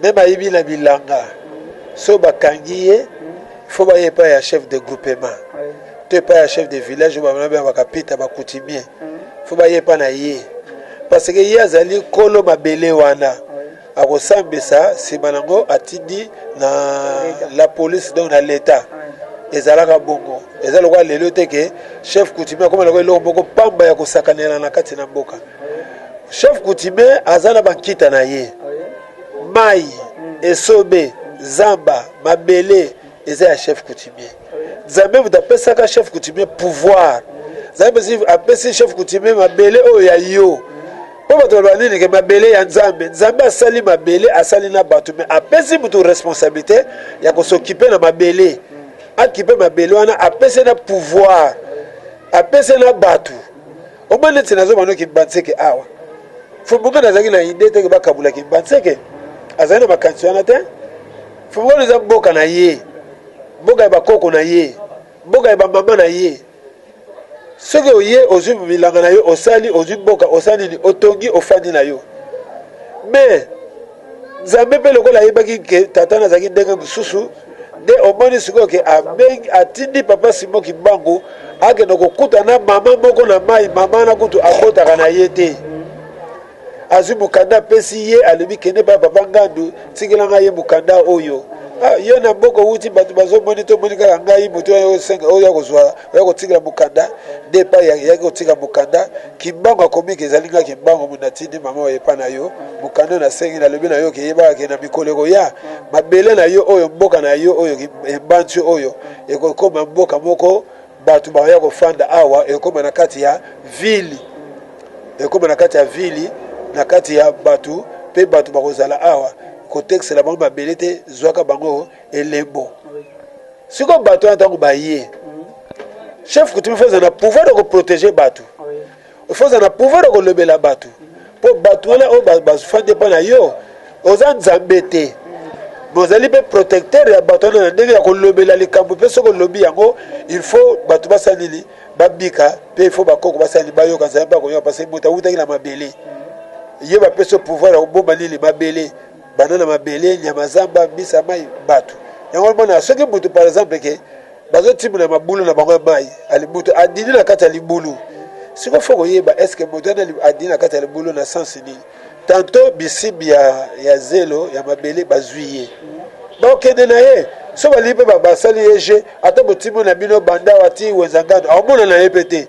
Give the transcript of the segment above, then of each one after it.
meme ayibi na bilanga so bakangi ye fo baye epai ya chef de groupement to epai ya chef de village oyo bamona bengaka pita bakutimie fo baye epai na ye parce que ye azali kolo mabele wana akosambisa nsima nango atindi na la police donc na l'etat ezalaka bongo eza lokola lelo te ke chef coutumier akoma lokola eloko moko pamba ya kosakanela na kati na mboka chef coutumier aza na bankita na ye mai esobe zamba mabele eza ya chef coutumier nzambe moto apesaka chef coutumier pouvoir nzambe apesi chef coutumier mabele oyo ya yo mpo bato baloba nini ke mabele ya nzambe nzambe asali mabele asali na bato me apesi moto responsabilité ya kosokipe na mabele akipe mabele wana apesi na pouvoir apesi na bato Omoni neti nazo bano kimbanseke awa fumbuka nazalaki na idee teke bakabula kimbanseke azali na makanisi wana te fumbuka eza mboka na ye mboka ya bakoko na ye mboka ya bamama na ye soki oye ozwi bilanga na yo osali ozwi mboka osali nini otongi ofandi na yo mais Nzambe mpe lokola ayebaki ke tata na azalaki ndenge mosusu nde omoni sikoyo ke abengi atindi papa Simon Kimbangu akende kokuta na mama moko na mai, mama wana kutu abotaka na ye te. Azwi mokanda apesi ye, alobi kende pa papa Ngandu, tikela ngai ye mokanda oyo. Ah, yo na boko wuti bato bazomoni tomoni kaka ngai moto oyo akozwa oyo akotikela mokanda nde epai yaki kotika mokanda Kimbangu akobika ezali nga kimbangu moto natindi mama oyo epa na yo mokanda na sengi na lobi na yo ke yebaka ke na mikolo ekoya mabele na yo oyo mboka na yo oyo embanti oyo ekokoma mboka moko bato bakoya kofanda awa ekoma na kati ya vili ekoma na kati ya vili na kati ya bato mpe bato bakozala awa kotekisela bango mabele te zwaka bango elebo sikoyo bato wana ntango baye chef coutume fo ezala na pouvoir ya koprotege bato fo ezala na pouvoir ya kolobela bato mpo bato wana oyo bafandi mpo na yo oza nzambe te bozali mpe protecteur ya bato wana na ndenge ya kolobela likambo mpe soki olobi yango il faut bato basala nini babika mpe il faut bakoko basala nini bayoka nzambe mpe akoyoka mpasi moto awutaki na mabele ye bapesi yo pouvoir ya kobomba nini mabele bana na mabele nyama zamba mbisa mai bato yango omona soki butu par exemple ke bazotimbola mabulu na bango ya mai alibutu adini na kati ya libulu siko fo koyeba eske moto wana adini na kati ya libulu na sense nini tanto bisibi ya, ya zelo ya mabele bazwi ye bakokende na ye so balingi mpe basali ye je ata botimbo na bino banda wati wenzangano akomona na ye mpe te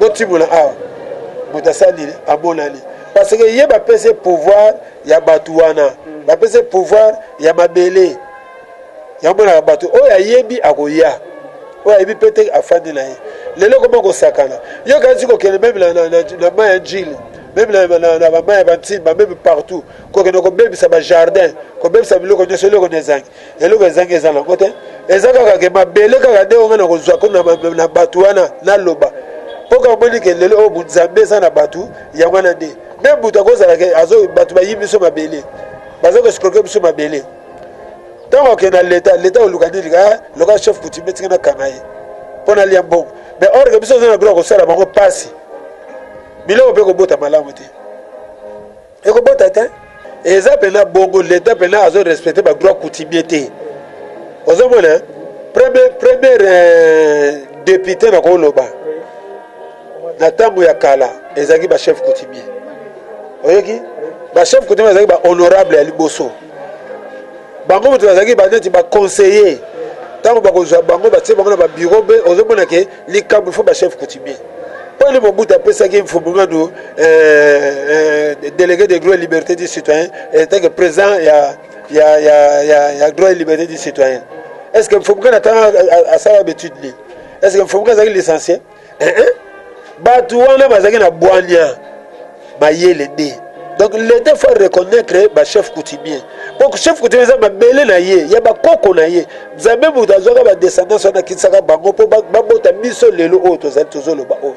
botimola awa moto asali nini amonani parce que ye bapesi pouvoir ya bato wana hmm. bapesi pouvoir ya mabele yamonaka bato oyo ayebi akoya oyo ayebi mpe te afandi na ye lelo ekoma kosakana yo kanisi kokende meme na mai ya njili meme na bamai ya bantimba meme partout kokende kobebisa bajardin kobebisa biloko nyonso eloko na ezangi eloko ezangi eza nango te eza kaka ke mabele kaka nde onga na kozwa ko na bato wana naloba mpo kaka omoni ke lelo oyo bunzambe eza na bato yango wana nde meme moto akozala ke bato bayibi biso mabele baza koescroke biso mabele ntango akende na leta leta oluka nini ka loka chef coutumier tika nakanga ye mpo nalia mbongo mais or ke biso oza na droit kosala bango mpasi biloko mpe kobota malamu te ekobota te eza mpena bongo leta mpena azo respecte badroit coutumier te ozomona premier premier euh, depute na koloba na ntango ya kala ezalaki bachef coutumier oyoki bachef coutumier bazalaki bahonorable ya liboso bango moto bazalaki baneti baconseiller ntango bakozwa bango batie bango na babiro be ozomona ke likambo fo ba chef coutumier oyo mobutu apesaki mfumulwadu euh, euh, délégué de droit et liberté du citoyen en tant que président ya, ya, ya, ya, ya droit et liberté du citoyen est ce que mfumuka na ntango asala bétude nini est ce que mfumuka azalaki licencie eh, eh. bato wana bazalaki na bwania mayele nde donc l'etat faut reconnaître ba chef coutumier po chef coutumier eza mabele na ye ya bakoko na ye nzambe moto azwaka badescendance wana akitisaka bango mpo babota biso lelo oyo tozali tozoloba oyo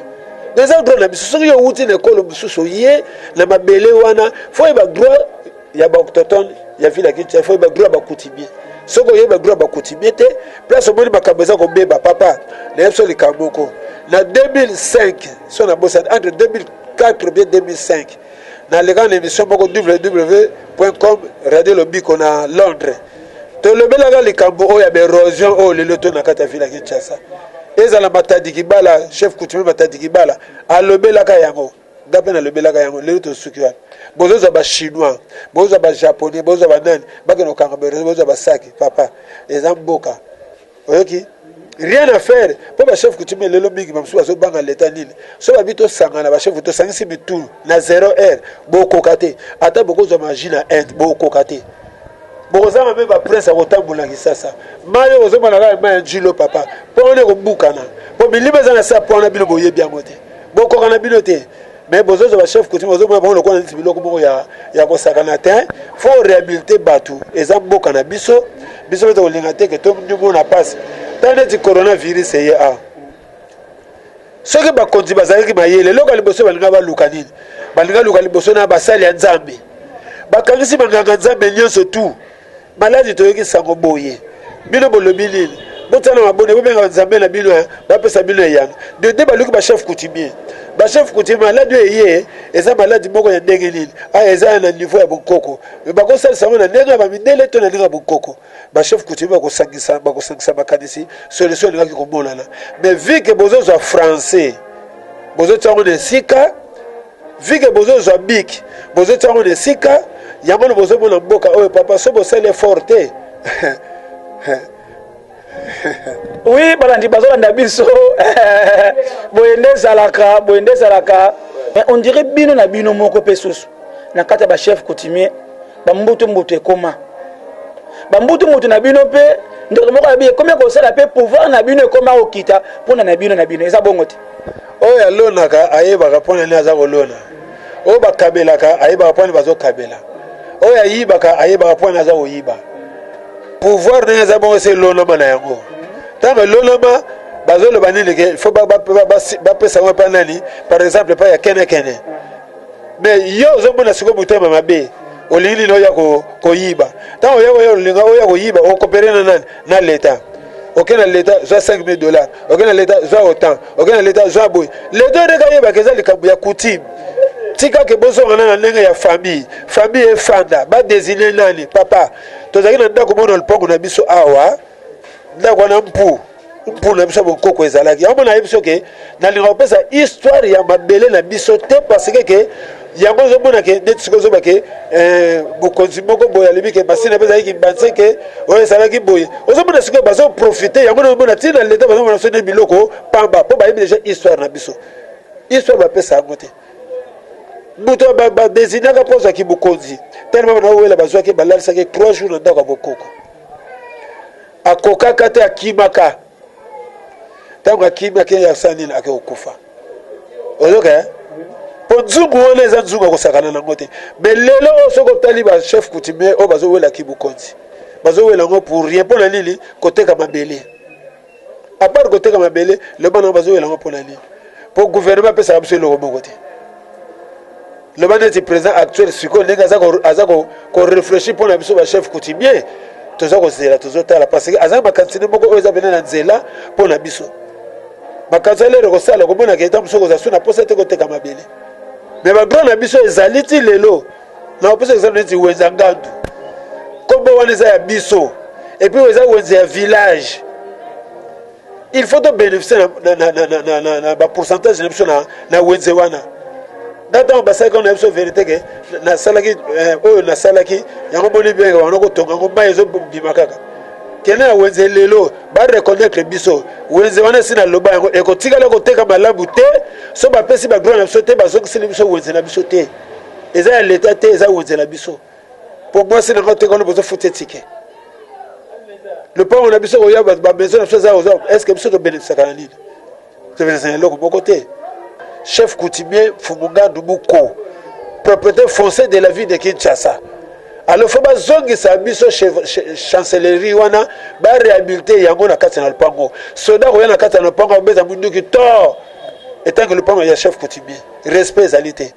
eza droit na biso soki yo owuti na ekolo mosusu oye na mabele wana fo oyeba droit ya baoctotone ya ville ya kinshasa fo oyeba droit ya bakoutimie soki oyebi badroit ya bakoutimie te place omoni makambo eza kobeba papa nayebi so likambo moko na 2005 so na bosani entre 2000 4 oubien 2005 naleka na emission moko www.com radio lobiko na londres tolobelaka likambo oyo ya baerosion oyo lelo to na kati ya ville ya kinshasa ezala matadi kibala chef coutumier matadi kibala alobelaka yango nga mpe nalobelaka yango lelo tosuki wana bozozwa bachinois bozwa bajaponais bozwa banani bakende kokanga baerosion bozwa basaki papa eza mboka oyoki rien à faire mpo bachef coutumier lelo mingi bamosusu bazobanga leta nini so babi tosangana bachef tosangisi mitu na zero heure bokoka te ata bokozwa magie na inde bokoka te bokozanga mpe baprince ya kotambola kisasa mai oyo bozomona kaka mai ya njilo papa mpo wana ekobukana mpo milimo eza na se ya mpo wana bino boyebi yango te bokoka na bino te mais bozozo ba chef coutume ozomona bango lokola neti biloko moko ya, ya kosakana te fo orehabilite bato eza mboka na biso biso mpe tokolinga te ke tomona mpasi ta neti coronavirus eye a soki bakonzi bazalaki mayele eloko ya liboso balinga baluka nini balinga luka liboso na basali ya nzambe bakangisi banganga nzambe nyonso tu Maladi toyoki sango boye bino bolobi nini botala mabone bobenga nzambe na bino eh, bapesa bino eyano de nde baluki bachef coutumier bachef coutumier maladi oyo eye eza maladi moko ya ndenge nini aya ah, eza na niveau ya bonkoko me bakosalisa yango na ndenge ya bamidele to na ndenge ya bonkoko bachef coutumier bakosangisa bakosangisa makanisi solution elingaki komonana me vike bozozwa français bozotya yango na esika Vu que bozo zwa bic, bozo tia yango na esika, yango nde bozo mona mboka oyo papa so bosali effort te. oui balandi bazolanda biso boye nde ezalaka boye nde ezalaka mais on dirait bino na bino moko mpe susu na kati ya bachef coutumier bambutu mbutu ekoma bambutu mbutu na bino mpe ndeko moko alobi ekomi kosala mpe pouvoir na bino ekoma kokita mpona na bino na bino eza bongo te oyo alonaka ayebaka mpo na nini aza kolona oyo bakabelaka ayebaka mpo na nini bazokabela oyo ayibaka ayebaka mpo na nini aza koyiba pouvoir ndenge eza bongo se elonama na yango ntango elonama bazoloba nini ke fo bapesa yango epai nani par exemple epai ya kenekene me yo ozomona sikoyo motema mabe olingi nini oya koyiba ntango oya koya olinga oya koyiba okopere na nani na leta oke na leta zwa 5000 dollars oke na leta zwa otan oke na leta zwa boye leta ndenge ayebaka eza likambo ya coutume tika ke bozongana na ndenge ya famille famille efanda badesine nani papa tozalaki na ndako mona lipango na biso awa ndako wana mpu mpu na biso ya bonkoko ezalaki yango mona ayebi soke nalingaka kopesa histoire ya mabele na biso te parce que ke yango ozomona ke ndeti sikoyo ozoba ke eh, bokonzi moko boye alobi ke masina mpe ezalaki kimbanse ke oyo ezalaki boye ozomona sikoyo bazoprofite yango na omona ntina leta bazomona biso nde biloko pamba mpo bayebi deja histoire na biso histoire bapesa yango te moto badesignaka mpo azwaki bokonzi telema bana owela bazwaki balalisaki 3 jours na ndako ya bokoko akokaka te akimaka ntango akimi akei asala nini ake kokufa oyoka eh? mpo nzungu wana eza nzungu akosakana nango te me lelo oyo soki otali bachef coutumier oyo bazowela kibokonzi bazowela yango pour rien mpo na nini koteka mabele apart koteka mabele loba nango bazowela yango mpo na nini mpo guvernema apesaka biso eloko moko te loba neti président actuel sikoyo ndenge aza korefléchir mpo na biso bachef coutumier toza kozela tozotala parce que aza na makanisi nde moko oyo eza pene na nzela mpo na biso makanisi alere kosala komonaka eta mosuku oza su na mposa te koteka mabele me bagran na biso ezali ti lelo na kopesa exemple neti wenza ngandu nkombo wana eza ya biso epuis eza wenze ya village il faut to bénéficier na, na, na, na, na, na, na ba pourcentage na biso na, na wenze wana na ntango basalaki wana na biso verité ke nasalaki eh, oyo nasalaki yango boni benge wana kotonga yango mai ezobima kaka kende na wenze lelo bareconnaitre biso wenze wana esi naloba yango ekotikala koteka malamu te so bapesi badroit na biso te bazongiseli biso wenze na biso te eza ya leta te eza wenze na biso po mwasi na nga oteka wana bozo futa etike lopango na biso koya bato bamaison na biso eza oza estce biso tobelekisaka na nini tobelekisa na eloko moko te chef coutumier fumungandu muko propriété foncier de la ville de kinshasa alors fo bazongisa biso chancellerie wana barehabilite yango na kati na lopango soda koya na kati na lopango abeta munduki to etanke lopango ya chef coutumier respect ezali te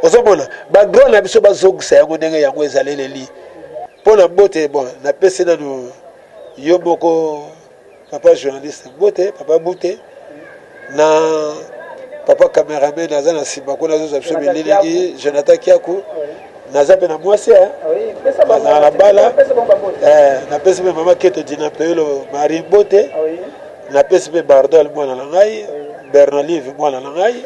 ozomona ba grand na biso bazongisa yango ndenge yango ezaleleli mpo na bote bon napesi nanu yo moko papa journaliste bote papa bute na papa cameraman aza na nsima kuna azozwa biso bililingi jonathan kiaku naza mpe na mwasi eh? ah nazala na bala eh, napesi mpe mama keto dina peyolo marie bote ah napesi mpe bardol mwana na ngai bernolive mwana na ngai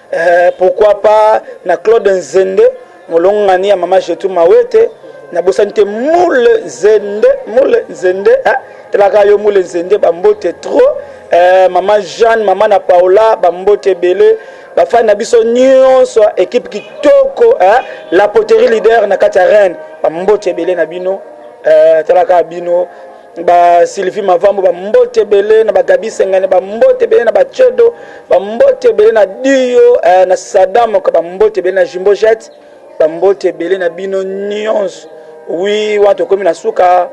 Eh, pourquoi pas na Claude Nzende, molongani ya mama Jetu Mawete, na bosani te Mule Nzende, Mule Nzende, eh, telaka yo Mule Nzende, bambote trop, eh, mama Jeanne, mama na Paola, bambote bele, bafani na biso nyonso, ekipe kitoko, eh, la poterie leader na kati ya Rennes, bambote bele na bino, eh, telaka bino, ba Sylvie Mavambo ba mbote ebele na ba Gabi Sengane ba mbote ebele na ba Chedo ba mbote ebele na Dio eh, na Saddam ka ba mbote ebele na Jimbo Jet ba mbote ebele na bino nyonso oui wana tokomi na suka